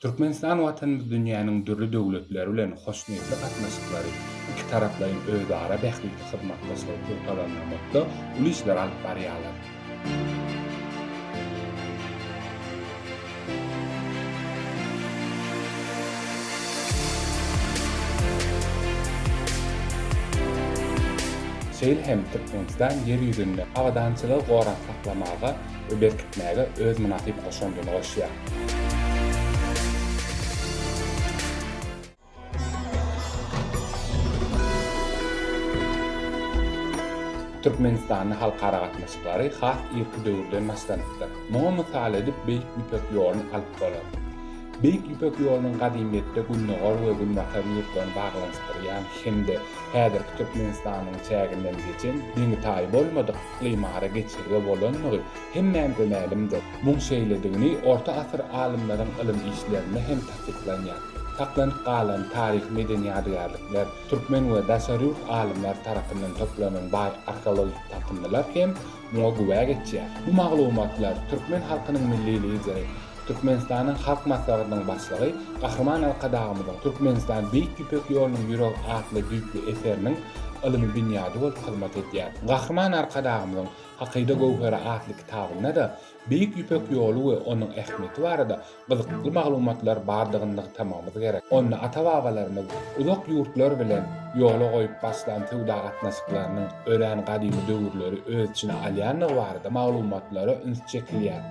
Türkmenistan Watanymyz dünýäniň dürli döwletleri bilen hoşniýetli gatnaşyklary, ikitaraplaýyn özara bähbitli hyzmatdaşlygy pugtalandyrmakda uly işleri alyp barýarlar. Şeýle hem Türkmenistan Ýer ýüzünde abadançylygy gorap saklamaga, we berkitmäge öz mynasyp goşandyny goşýar. Türkmenistanda halkara gatnaşyklary has irki döwürden başlanypdyr. Muňa mysal edip Beýik Ýüpek ýoluny alyp bolar. Beýik Ýüpek ýolunyň gadymyýetde gündogar we günbatar ýurtlaryny baglanyşdyrýan hem-de häzirki Türkmenistanyň çäginden geçen deňi-taýy bolmadyk Ymara geçirge bolandygy hemmämize mälimdir. Muň şeýledigini orta asyr alymlaryň ylym işlerinde hem tassyklanýar. Saklanyp galan taryhy-medeni ýadygärlikler, türkmen we daşary ýurt alymlary tarapyndan toplanan baý arheologik tapyndylar hem muňa güwä geçýär. Bu maglumatlar türkmen halkynyň Milli Lideri Türkmenistanyň Halk Maslahatynyň Başlygy Gahryman Arkadagymyzyň Türkmenistan, Beýik Ýüpek ýolunyň ýüregi atly düýpli eseriniň ylmy binýady bolup hyzmat edýär. Gahryman Arkadagymyzyň Hakyda göwheri atly kitabynda-da Beýik Ýüpek ýoly we onuň ähmiýeti barada gyzykly maglumatlar bardygyny nygtamagymyz gerek. Onda ata-babalarymyz uzak ýurtlar bilen ýola goýup başlan söwda gatnaşyklarynyň örän gadymy döwürleri öz içine alýandygy barada maglumatlara üns çekilýär.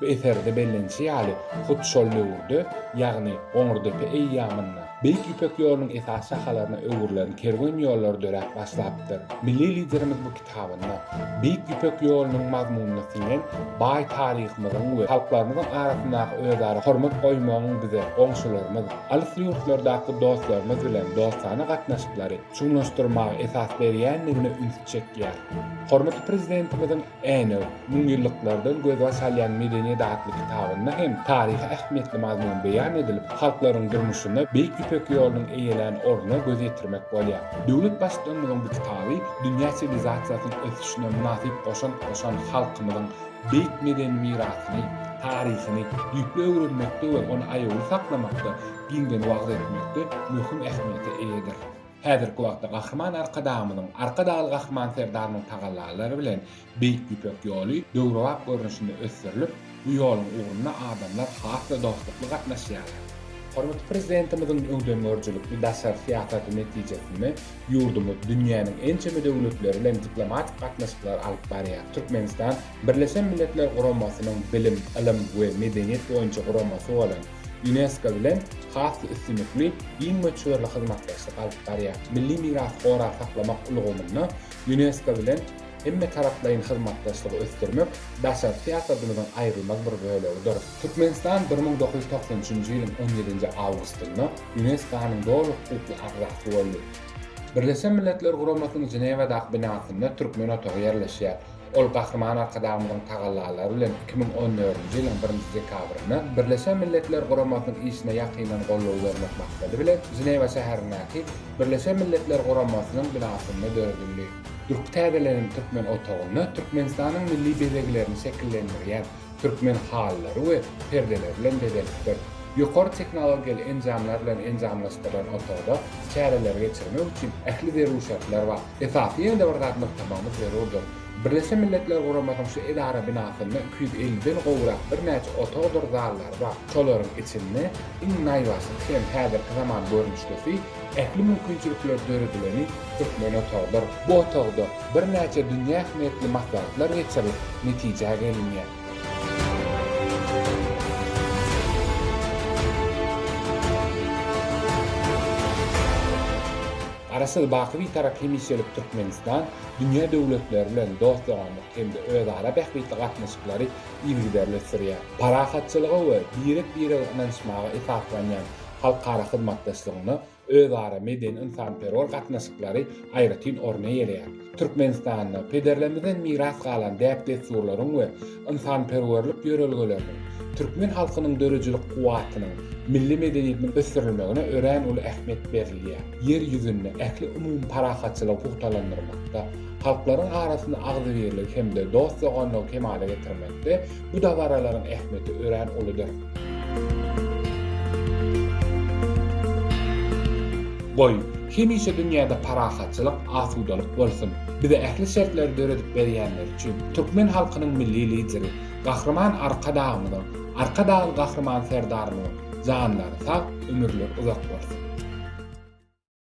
Bu eserde bellenişi ýaly, hut şol döwürde, ýagny Goňurdepe eýýamynda, Beýik Ýüpek ýolunyň esasy şahalaryna öwrülen kerwen ýollar döräp başlapdyr. Milli Liderimiz bu kitabynda Beýik Ýüpek ýolunyň mazmunyna siňen baý taryhymyzyň we halklarymyzyň arasyndaky özara hormat goýmagyň bize goňşularymyz, alys ýurtlardaky dostlarymyz bilen dostana gatnaşyklary çuňlaşdyrmaga esas berýändigine ünsi çekýär. Hormatly Prezidentimiziň. Änew, müňýyllyklardan gözbaş alýan Medeniýet atly kitabynda hem taryhy ähmiýetli mazmun beýan edilip, halklaryň durmuşynda Beýik Ýüpek ýolunyň eýelän ornuna göz ýetirmek bolýar. Döwlet Baştutanymyzyň bu kitaby dünýä siwilizasiýasynyň ösüşine mynasyp goşant goşan halkymyzyň beýik medeni mirasyny, taryhyny düýpli öwrenmekde we ony aýawly saklamakda, giňden wagyz etmekde möhüm ähmiýete eýedir. Häzirki wagtda Gahryman Arkadagymyzyň, Arkadagly Gahryman Serdarymyň tagallalary bilen Beýik Ýüpek ýoly döwrebap görnüşinde ösdürilip, bu ýoluň ugrunda adamlar has-da dostlukly gatnaşýarlar. Hormatly Prezidentimiziň öňdengörüjilikli daşary syýasaty netijesinde ýurdumyz dünýäniň ençeme döwletleri bilen diplomatik gatnaşyklary alyp barýar. Türkmenistan Birleşen Milletler Guramasynyň Bilim, ylym we medeniýet boýunça guramasy bolan, Ýunesko bilen has-da üstünlikli, giň möçberli hyzmatdaşlyk alyp barýar. Milli mirasy gorap saklamak ulgamynda Ýunesko bilen hemmetaraplaýyn hyzmatdaşlygy ösdürmek daşary syýasatymyzyň aýrylmaz bir bölegidir. Türkmenistan bir müň dokuz ýüz togsan üçünji ýylyň on ýedinji awgustynda Ýuneskonyň doly hukukly agzasy boldy. Birleşen Milletler Guramasynyň Ženewadaky binasynda Türkmen otagy ýerleşýär. Ol Gahryman Arkadagymyzyň tagallalary bilen iki müň on dördünji ýylyň birinji dekabrynda Birleşen Milletler Guramasynyň işine ýakyndan goldaw bermek maksady bilen Ženewa şäherindäki Birleşen Milletler Guramasynyň binasynda döredildi. Durky täzelenen türkmen otagynda Türkmenistanyň milli bezeglerini şekillendirýän türkmen halylary we perdeleri bilen bezelipdir. Ýokary tehnologiýaly enjamlar bilen enjamlaşdyrylan otagda çäreleri geçirmek üçin ähli zerur şertler bar. Esasy ýene-de bir zat nygtamagymyz zerurdyr. Birleşen Milletler Guramasynyň şu edara binasynda iki ýüz elli den gowrak birnäçe otagdyr zallary bar. Şolaryň içinde iň naýbaşysy hem häzirki zaman görnüşlisi, Ähli mümkinçilikler döredileni türkmen otagydyr. Bu otagda birnäçe dünýä ähmiýetli maslahatlar geçirilip, netijä gelinýär. Garaşsyz, baky Bitarap hemişelik Türkmenistan dünýä döwletleri bilen dost-doganlyk hem-de özara bähbitli gatnaşyklary yzygiderli sürýär. Parahatçylyga we birek-birege ynanyşmaga esaslanýan halkara hyzmatdaşlygynda özara medeni-ynsanperwer gatnaşyklary aýratyn orun eýeleýär. Türkmenistanda pederlerimizden miras galan däp-dessurlaryň we ynsanperwerlik ýörelgeleriniň türkmen halkynyň döredijilik kuwwatynyň, milli medeniýetiniň ösdürilmegine örän uly ähmiýet berilýär. Ýer ýüzünde ähli umumy parahatçylygy pugtalandyrmakda, halklaryň arasynda agzybirligi hem-de dost-doganlygy kemala getirmekde bu dabaralaryň ähmiýeti örän uludyr. Goý, hemişe dünýäde parahatçylyk, asudalyk bolsun! Bize ähli şertleri döredip berýänleri üçin türkmen halkynyň Milli Lideri Gahryman Arkadagymyzyň, Arkadagly Gahryman Serdarymyzyň janlary sag, ömürleri uzak bolsun!